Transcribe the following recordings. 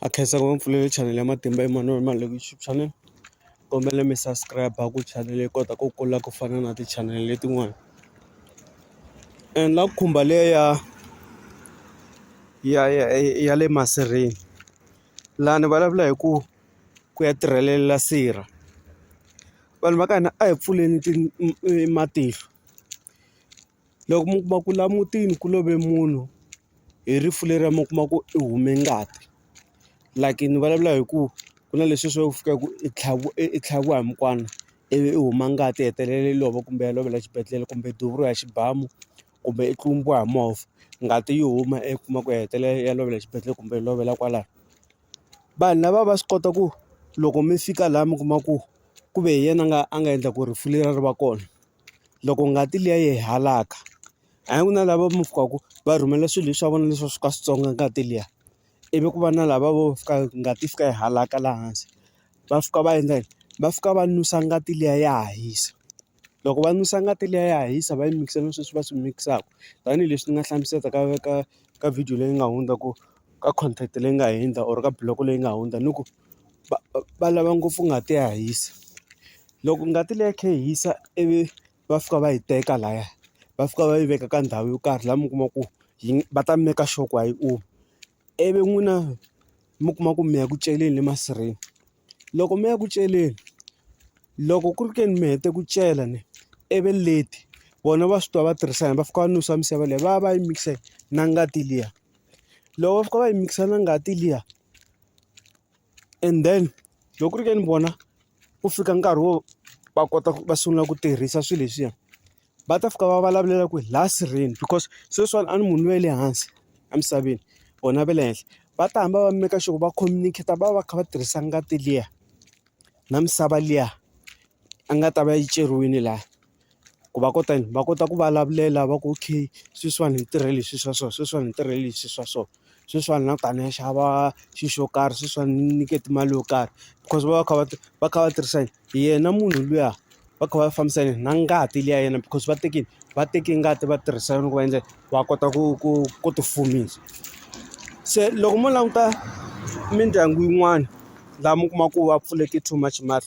a khensa ku va ni pfulele chanele ya matimba Emmanuel Maleku YouTube channel kombela mi subscribe ku chanele yi kota ku kula ku fana na ti-channel letin'wana and la ku khumba leyi ya ya ya ya le masirheni laha ni vulavula hi ku ku ya tirhelela sirha vanhu va ka hina a hi pfuleni matihlo. loko mi kuma ku laha mutini ku love munhu hi rifu leriya mi kuma ku i hume ngati like ni vulavula hi ku ku na leswi swo fika ku i tlhaviwa i tlhaviwa hi mukwana ivi i huma ngati i hetelela i lova kumbe ya lovela xibedhlele kumbe duvula ya xibamu kumbe i tlumbiwa hi movha ngati yi huma i kuma ku hetelela ya lovela xibedhlele kumbe yi lovela kwalano. Vanhu lava va swi kota ku loko mi fika laha mi kuma ku ku ve hi yena a nga a nga endla ku rifu leriya ri va kona. loko ngati liya yi halaka a hi ku na lava mi fikaka va rhumela swilo leswi swa vona leswi va swi ka swi tsonga ngati liya ivi ku va na lava vo fika ngati yi fika yi halaka laha hansi va fika va endla yini va fika va nusa ngati liya ya ha hisa loko va nusa ngati liya ya ha hisa va yi mikisa na sweswi va swi mikisaka tanihileswi ni nga hlamusela ka ka ka video leyi nga hundza ku ka content leyi nga hundza or ka buloho leyi nga hundza ni ku. va va lava ngopfu ngati ya hisa. Loko ngati liya yi kha yi hisa ivi va fika va yi teka lahaya, va fika va yi veka ka ndhawu yo karhi laha mi kuma ku yi va ta make sure ku a yi omi. Ivi n'wina mi kuma ku mi ya ku celeni le masirheni. Loko mi ya ku celeni, loko ku ri ke ni mi hete ku cela ni ivi late, vona va swi tiva va tirhisa yona va fika va nusa misava liya va ya va ya yi mikisa na ngati liya. Loko va fika va yi mikisa na ngati liya. and then loko ku ri ke ni vona ku fika nkarhi wo va kota ku va sungula ku tirhisa swilo leswiya va ta fika va vulavulela ku hi laha sirheni because sweswiwani a ni munhu loyi wa le hansi emisaveni vona va le henhla va ta hamba va make sure ku va communicator va va kha va tirhisa ngati liya na misava liya a nga ta va yi ceriwile laha. ku va kota yini va kota ku vulavulela va ku okay sweswiwani hi tirhe leswi swa so sweswiwani hi tirhe leswi swa so sweswiwani na kani ni xava xi xo karhi sweswiwani ni nyikete mali yo karhi because va va kha va va kha va tirhisa yini hi yena munhu luya va kha va fambisa yini na ngati liya ya yena because va teke va teke ngati va tirhisa yona ku va endla va kota ku ku ku ti fumisa se loko mo languta mindyangu yin'wana laha mi kuma ku va pfuleke too much mahlo.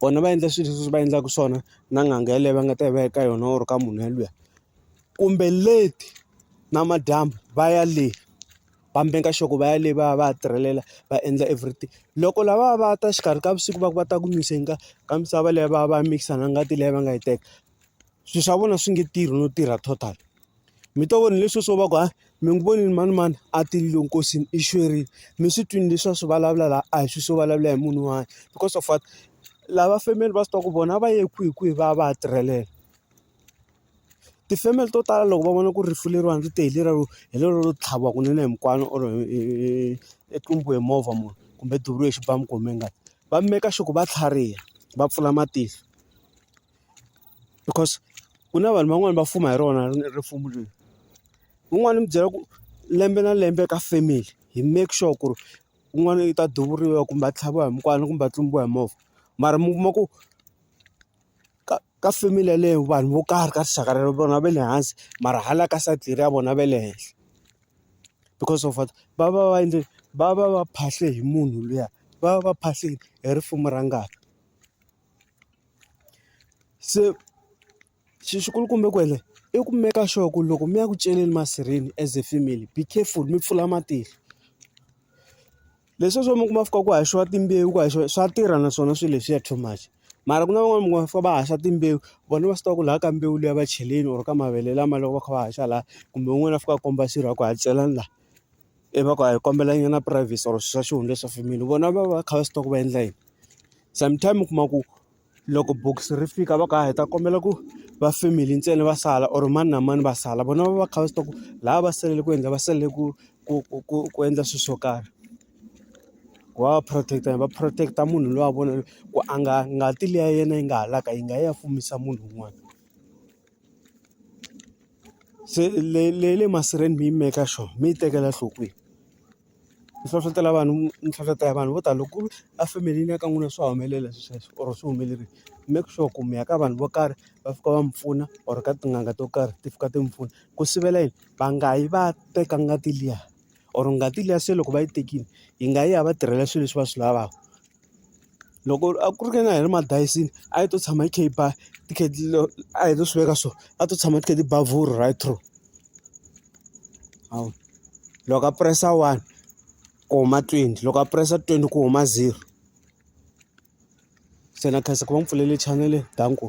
vona va endla swilo leswi va endlaka swona na n'anga yaleyo va nga ta yi va ya ka yona or ka munhu yalweyo kumbe late namadyambu va ya le va make sure ku va ya le va ya va ya tirhelela va endla everything loko lavaya va ta exikarhi ka vusiku va ku va ta ku mix-a ka misava leyi va va mikisa na ngati leyi va nga yi teka. swilo swa vona swi nge tirhi no tirha total mi to vona leswi swo va ku ha mi n'wi vonile mani mani a tilile nkosini i xwerile mi swi twini leswi a swi vulavula laha a hi swilo swo vulavula hi munhu un'wana because of what lava family va swi tiva ku vona va ye kwihi kwihi va ya va ya tirhelela ti-family to tala loko va vona ku ri rifu leriwani ri te hi leriya ro hi lero ro tlhaviwa kunene hi mukwana or i tlumbiwe hi movha munhu kumbe duvuriwe hi xibamu kumbe ngati va maker sure ku va tlhariha va pfula matihlo. because ku na vanhu van'wani va fuma hi rona ripfumbu leri un'wana ni mu byela ku lembe na lembe ka family hi make sure ku ri un'wana i ta duvuriwa kumbe a tlhaviwa hi mukwana kumbe a tlumbiwa hi movha mara mi kuma ku ka ka family yaleyo vanhu vo karhi ka rixaka rero vona va le hansi mara hala ka side leri ya vona va le henhla because of what va va va endle va va va phahle hi munhu luya va va va phahleni hi risimu ra ngati. se xi xi kulukumba kwale i ku make sure ku loko mi ya ku celeni masirheni as a family be careful mi pfula matihlo leswiya swo mi kuma fika ku haxiwa timbewu ku haxiwa swa tirha naswona swilo leswiya too much mara ku na van'wani mi kuma fika va haxa timbewu vona va swi tiva ku laha ka mbewu liya va cheleni or ka mavele lama loko va kha va haxa laha kumbe un'wana a fika a komba xirho a ku ha celani laha. I va ku a hi kombela nyana privacy or swa xihundla leswa family vona va va kha va swi tiva ku va endla yini sometime u kuma ku loko bokisi ri fika va ku hayi hi ta kombela ku va family ntsena va sala or mani na mani va sala vona va va kha va swi tiva ku lava va salele ku endla va salele ku ku ku ku ku endla swilo swo karhi ku va va protect va protect munhu luya vona ku a nga ngati liya ya yena yi nga halaka yi nga ya fumisa munhu un'wana. se le le masirheni mi yi maker sure mi yi tekela nhlokweni ni hlohlotelo vanhu ni hlohlotelo vanhu vo tala ku a family-ni ya ka n'wina swa humelela swilo sweswo or swi humelerile make sure ku mi ya ka vanhu vo karhi va fika va mi pfuna or ka tin'anga to karhi ti fika ti mi pfuna ku sivela yini va nga yi va ya teka ngati liya or ngati liya se loko va yi tekile yi nga yi ya va tirhela swilo leswi va swi lavaka Loko a ku ri ka na hi ri madayisini a yi to tshama yi kha yi ba a hi to swi veka so a to tshama ti kha ti ba vurhu right through hawu loko a press-a one ku huma twenty loko a press-a twenty ku huma zero se na khensa ku va ni pfulele chanele danko.